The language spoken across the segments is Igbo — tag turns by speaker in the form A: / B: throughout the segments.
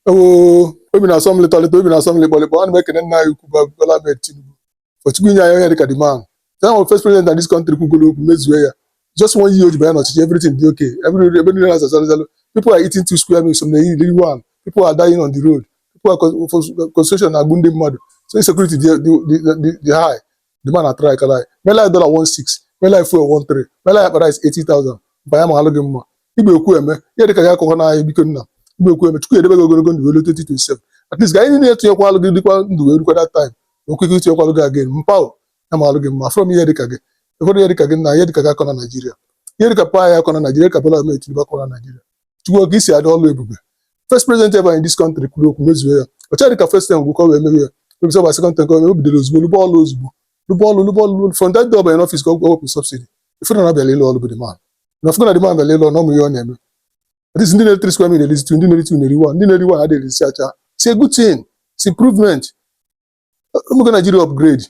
A: oo obi na-asọ m lịtọlịtọ obi na-asọ m lịkpọlịkpọ ana m ekene nna anyị ukwu bụ Bola Ahmed Tinubu for Chukwu inye anyị onye dịka the man ya nwere first president na this country kwugoro okwu mezue ya just one year o ji banye n'ọchịchị everything dị okay every ebe niile na-aza zalụ zalụ people are eating two square meals some na-eri one people are dying on the road people are con- for- frustration na-egbu ndị mmadụ so insecurity dị dị- dị- dị high the man atrykala anyị mela anyị dọla 16 mela anyị fuel 13 mela anyị akpa rice 80,000 mpa ọ ya-amalụ gị mma ị bụ ekwueme ihe dịka gị akọkwana anyị biko nna ị bụ ekwueme Chukwu edebe gị ogologo ndụ eluo 2027 at least ka anyị niile tụnyekwaalụ gị dịkwa ndụ wee rukwa that time okwu ike ịtụnyekwalụ gị again mpa ọ ya-amalụ gị mma from ihe dịka gị ekwere ihe dịka gị nna ihe dịka gị akọna Naịjirịa ihe dịka mpa anyị akọna Naịjirịa ka Bola Ahmed Tinubu akọna Naịjirịa Chukwu ka isi adị ọlụ ebube first president ever in this country kwuru okwu mezuo ya o cheghị ka first term gwụkọ wee mewe ya maybe ọ baa second term ka o bidoro ozugbo lụba ọlụ ozugbo lụba ọlụ lụba ọlụ lụba from that day ọ banye n'ọfis ka ọ wepụ subsidy ị fụ na ọ bịalụ ịlụ ọlụ bụ the man na ị fụgo na the man bịalụ ịlụ ọlụ ọ ma ihe ọ na-eme at least ndị na-eri three square meal erizi two ndị na-eri two na-eri one ndị na-eri one adịghị erizi ncha it's a good thing it's improvement o mego Nigeria upgrade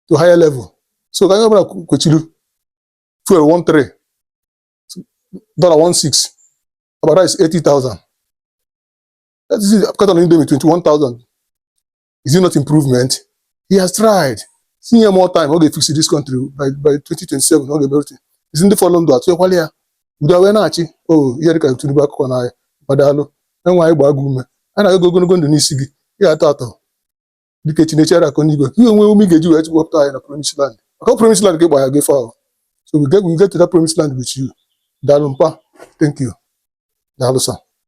A: to higher level so ka anyị ọbụla kwechiri fuel one three dọla 16 akpa rice 80,000 that is carton Indomie 21,000 is it not improvement he has tried sị nye ya more time ọ ga-efix this country by by 2027 ọ ga-emerụte isi ndị fọrọ ndụ atụnyekwaalụ ya udo wee na-achị o oh, ihe dịka Tinubu akọkwana anyị mpa daalụ Onyenwe anyị gbaa gị ume a na-agọ ogologo ndụ n'isi gị ị ga-atọ atọ dike Chineke ara akụ n'igwe ka i wee nwee ume ị ga-eji wee wepụta anyị na promise land maka ọ promise land ka ị gbara gị fọ so we get we get to that promise land with you daalụ mpa thank you daalụ sir